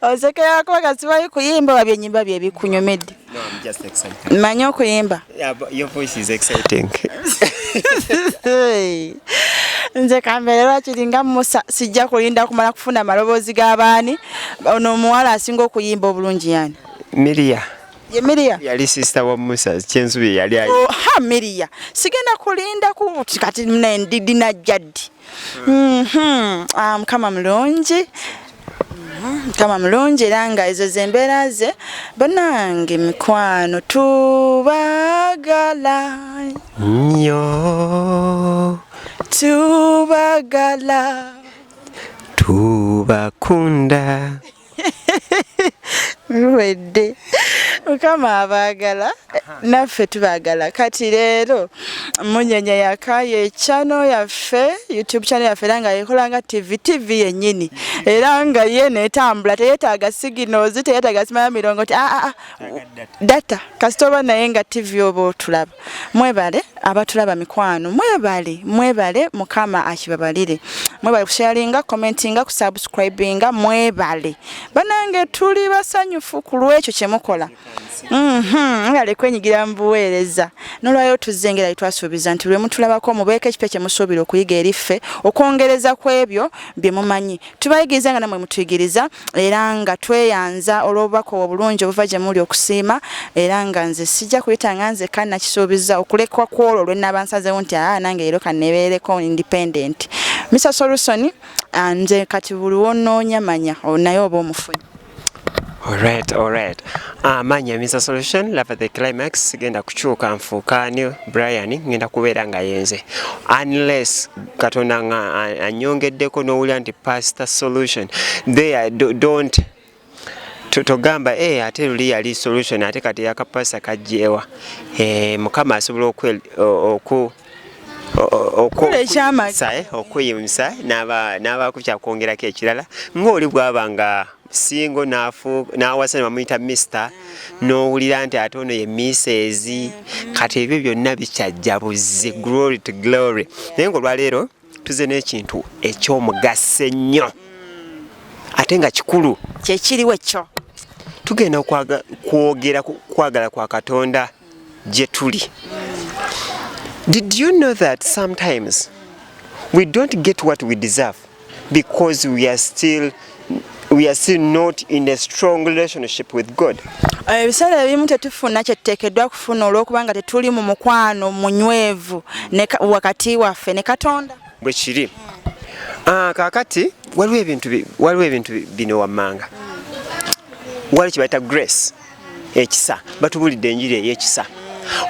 osekera kuba kati bali kuyimba babye nyimba bye bikunyomedde manyi okuyimba nze kambeere lwaki linga musa sijja kulinda kumala kufuna amaloboozi g'abaani ono omuwala asinga okuyimba obulungi yani miria ye Miria yali sister wa Musa kyensubi yali ayi oh, ha Miria sigenda kulinda ku kati ne ndidi na jadi mhm mm um, kama mlonji mhm, kama mlonji langa ezo zembera ze banange mikwano tubagala nyo tubagala tubakunda luwedde mukama abaagala naffe tubaagala kati leero munyenya yakayo ekyano yaffe youtube channel yaffe era nga yekola nga tv tv yennyini era nga ye netambula teyetaaga siginals teyetaaga simaya mirongo ti aa ah, ah, ah, data kasita oba naye nga tv oba otulaba mwebale abatulaba mikwano mwebale mwebale mukama akibabalire mwebale kusharinga commentinga kusubscribinga mwebale banange tuli basanyufu ku lwekyo kyemukola mhm, mwebale kwenyigira mubuweereza nolwayo tuzze ngera yetwasuubiza nti lwemutulabako mubeeko ekipya kyemusuubira okuyiga eri ffe okwongereza ku ebyo bye mumanyi tubayigiriza nga namwe mutuyigiriza era nga tweyanza olw'obubaka obulungi obuva gye muli okusiima era nga nze sijja kuyita nga nze ka nakisuubiza okulekwa ku olwo lwe nnaaba nsazeewo nti aa nange leero kannebeereko independent misa solusoni ah, nze kati buli wonoonya manya oh, naye oba omufunyi Alright, alright. Ah, manya Mr. Solution, love the climax, genda kuchuka mfuka ni Brian, ngenda kubera nga yenze. Unless katona nga anyonge deko no uli anti pastor solution. They are, do, don't togamba eh ate luli yali solution ate kati yakapasa kajjewa eh mukama asobola okwe oku okukola ekyamagero sae okuyimsa n'aba n'abakutya kwongerako ekirala ng'oli bw'aba nga singo n'afu n'awasa ne bamuyita misita n'owulira nti ate ono ye miseezi kati ebyo byonna bikyajja buzzi glory to glory naye ng'olwaleero tuze n'ekintu eky'omugaso ennyo ate nga kikulu kyekiriwo ekyo tugenda kwogera kwagala kwa katonda gye tuli did you know that sometimes we don't get what we deserve because we are still we are still not in a strong relationship with God eh, ebiseera ebimu tetufuna kyetuteekeddwa kufuna olw'okuba nga tetuli mu mukwano munywevu wakati waffe ne katonda bwe kiri ah, kaakati waliwo ebintu bino wammanga waliwo kye bayita grace ekisa batubulidde enjiri eyekisa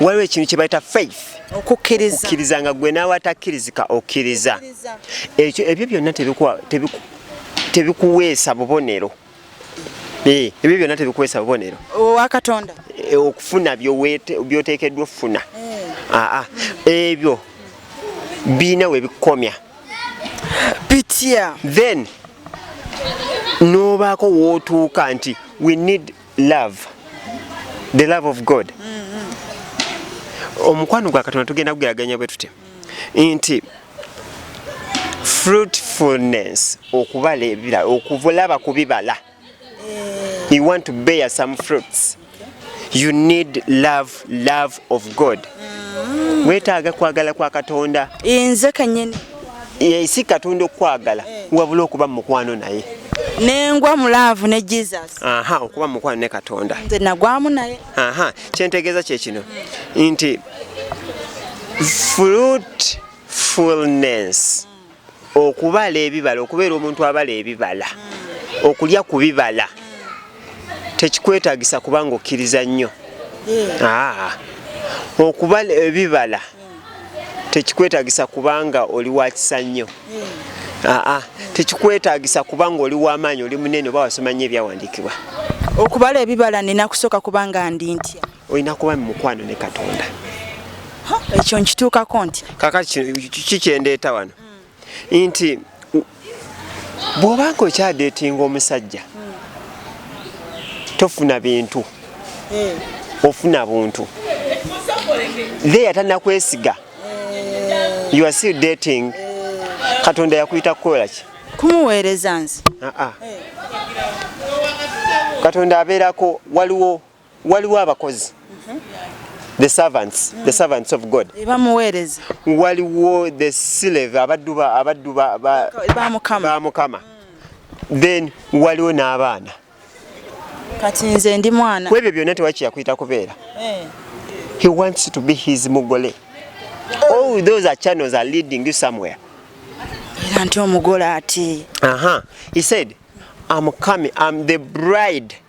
waliwo ekintu kyebayita faith okukkiriza nga gwe naawe atakkirizika okkiriza ekyo ebyo byonna tebikuweesa bubonero eh, ebyo byonna tebikuweesa bubonero owakatonda eh, okufuna byoteekeddwa okufuna hmm. aa ebyo birina webikomya bitya then nobaako wootuuka nti we need love the love of god mm-hmm. omukwano gwa katonda tugenda kugeraganya bwe tutya nti fruitfulness okubala ebirala okuvulaba ku bibala you want to bear some fruits you need love love of god mm. wetaaga kwagala kwa katonda nze kanyini si katonda okukwagala eh. wabula okuba mumukwano naye nengwa mulaavu ne jesus aha okuba mumukwano ne katonda nze nagwamu naye aha kyentegeeza kyekino nti fruitfulness mm. okubala ebibala okubeera omuntu abala ebibala okulya ku bibala tekikwetagisa kubanga okkiriza nnyo hmm. ah. okubala ebibala tekikwetagisa kubanga oli wakisa nnyo hmm. ah, ah. tekikwetagisa kubanga oli wamaanyi oli munene oba wasoma nnyo ebyawandiikibwa okubala ebibala nina kusooka kubanga ndi ntya olina kuba mu mukwano ne katonda ekyo nkituukako nti kaka kikyendeeta wano mm. nti bw'obanga okyadeetinga omusajja mm. tofuna bintu eh. ofuna buntu leya tanakwesiga eh. you are still dating eh. katonda yakuyita kukola ki kumuweereza nze ah, ah. katonda abeerako waliwo waliwo abakozi the servants the servants of god bamuweereza waliwo the slave abaddu ba abaddu ba ba mukama ba mukama then waliwo n'abaana kati nze ndi mwana kwebyo byonna tewakiyakuyita kubeera eh. he wants to be his mugole all those are channels are leading you somewhere era nti omugole ati aha he said i'm coming i'm the bride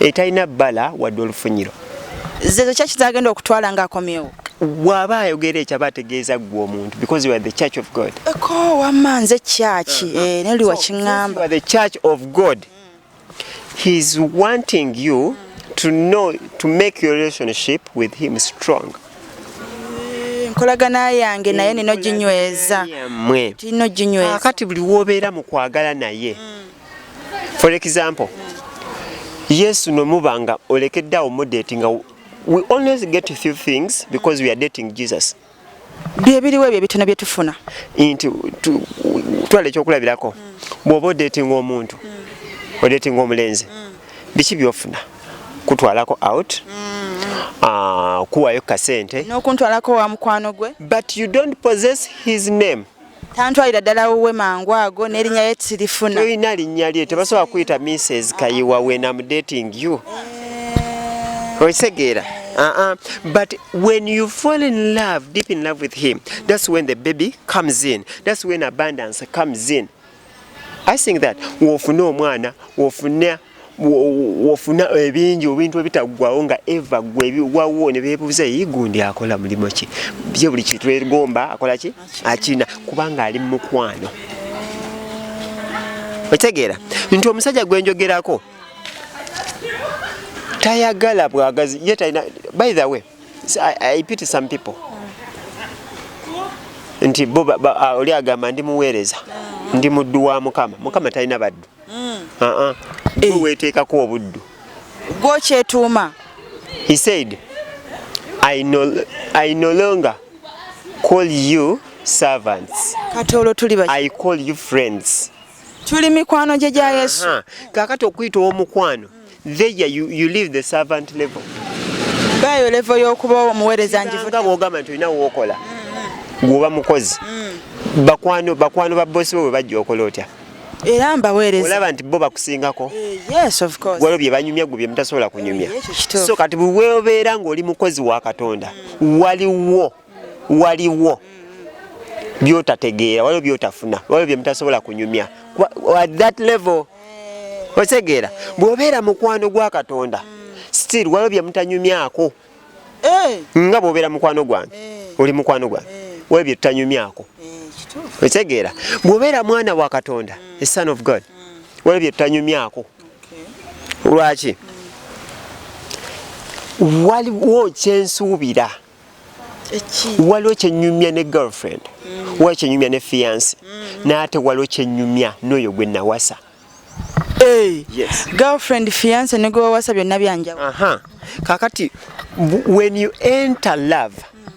etalina bbala wadde olufunyiro zezo kyaki zagenda okutwala nga akomyewo waba ayogera ekyo aba ategeeza ggwe omuntu because you are the church of god eko wamma nze kyaki uh-huh. eh, neli wakiŋamba the church of god he is wanting you to know to make your relationship with him strong eh, nkolagana yange naye nino ginyweza mwe tino ginyweza kati buli wobeera mu kwagala naye mm. for example yesu nomuba nga olekedde awo mudeti nga we always get a few things because we are dating jesus byebiriwo ebyo ebitono byetufuna nti twala ekyokulabirako bwoba odetinga omuntu odetinga omulenzi biki byofuna kutwalako out ah, kuwayo kasente nokuntwalako wa mukwano gwe but you don't possess his name tantwalira ddala wuwe mangu ago n'erinnya ye tirifuna tolina linnya lye tebasobola kuyita mrs kayiwa when am dating you eh. okitegeera uh -uh. but when you fall in love deep in love with him that's when the baby comes in that's when abundance comes in i think that wofuna omwana wofuna wofuna ebingi obintu ebitaggwawo nga eva gwe ebiwawo ne beebuuza eyi gundi akola mulimu ki ye buli kintu erigomba akola ki akina kubanga ali mumukwano otegeera nti omusajja gwe njogerako tayagala bwagazi ye talina by the way I, I pity some people nti bo oli agamba ndi muweereza ndi muddu wa mukama mukama talina baddu mm. uh -uh. Hey. Eh. weteekako obuddu gwokyetuuma he said I no, I no longer call you servants kati olwo tuli baki I call you friends tuli mikwano gye gya yesu kakati okuyita owomukwano There you, you leave the servant level. Bayo level yokuba omuwereza njivude. Wogamba nti olina wokola. Mm-hmm. Gwoba mukozi. Mm. Bakwano bakwano ba boss bo bajja okola otya? Era mbawereza. Olaba nti bo bakusingako. Eh, yes of course. Gwalo bye banyumya gubye mtasobola kunyumya. Eh, so kati bwe obeera ng'oli mukozi wa Katonda mm. waliwo waliwo byotategeera waliwo byotafuna waliwo byemutasobola kunyumya at that level otegeera bwobeera mukwano gwa katonda still waliwo byemutanyumyako eh. nga bwobeera mukwano gwange eh. oli mukwano gwange eh. waliwo byetutanyumyako otegeera bwobeera mwana wa katonda a son of god mm. waliwo byetutanyumyako lwaki mm. waliwo kyensuubira waliwo kyenyumya ne girlfriend mm. waliwo kyenyumya ne fiance mm. naate waliwo kyenyumya noyo gwe nawasa hey. yes. girlfriend fiance ne gwe wawasa byonna byanjawo uh -huh. kakati when you enter love mm.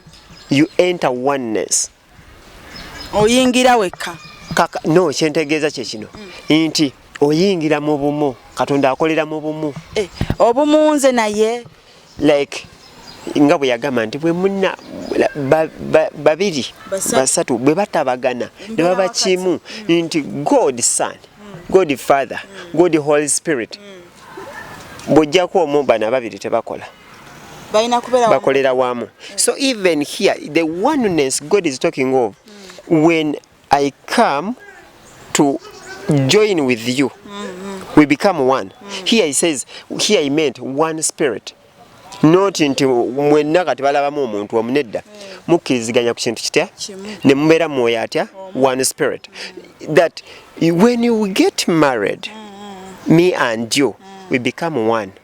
you enter oneness mm. oyingira wekka kaka no kyentegeeza kye kino mm. nti oyingira mu bumu katonda akolera mu bumu eh, obumu nze naye like nga bwe yagamba nti bwe muna babiri basatu bwe batabagana ne baba kimu mm. nti god son mm. god father mm. god holy spirit mm. bw'ojjako omu bana babiri tebakola mm. bakolera wamu so even here the oneness god is talking of mm. when i come to join with you mm -hmm. we become one mm. here he says here he meant one spirit noti nti mwenna kati balabamu omuntu omu nedda mm. mukkiriziganya ku kintu kitya ne mubeera mwoyo atya one spirit that when you get married mm. me and you mm. we become one mm.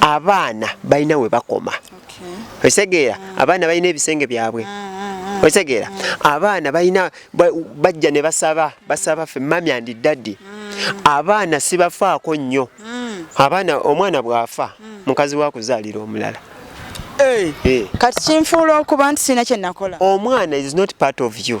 abaana balina we bakoma otegeera mm. abaana balina ebisenge byabwe mm, mm, otegeera abaana balina bajja ne basaba basaba fe mami andi daddi abaana sibafaako nnyo abaana omwana bw'afa mukazi wa kuzaalira omulala eh. Eh. kati kinfuula okuba nti sirina kye nakola omwana is not part of you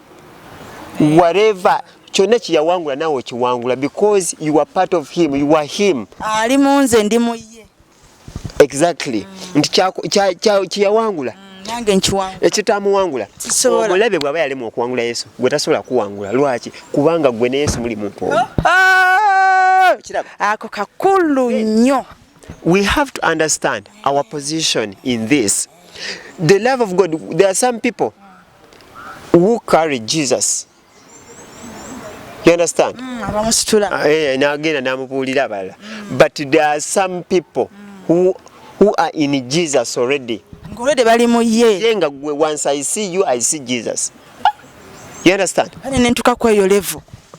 whatever kyonna kyeyawangula naawe okiwangula because you are part of him you are him ali munze ndi muye exactly mm. nti kyeyawangula mm, nange nkiwangula ekitamuwangula omulabe bwaba yalemu okuwangula yesu gwe tasobola kuwangula lwaki kubanga gwe ne yesu muli muntu oh, oh! ako kakulu nnyo we have to understand our position in this the love of god there are some people who carry Jesus you understand mm, abamusitula ah, eh, eh nagenda namubuulira abalala mm. but there are some people mm. who, who are in Jesus already ngolede bali mu ye ye nga gwe once I see you I see Jesus you understand kale nentuka kweyo level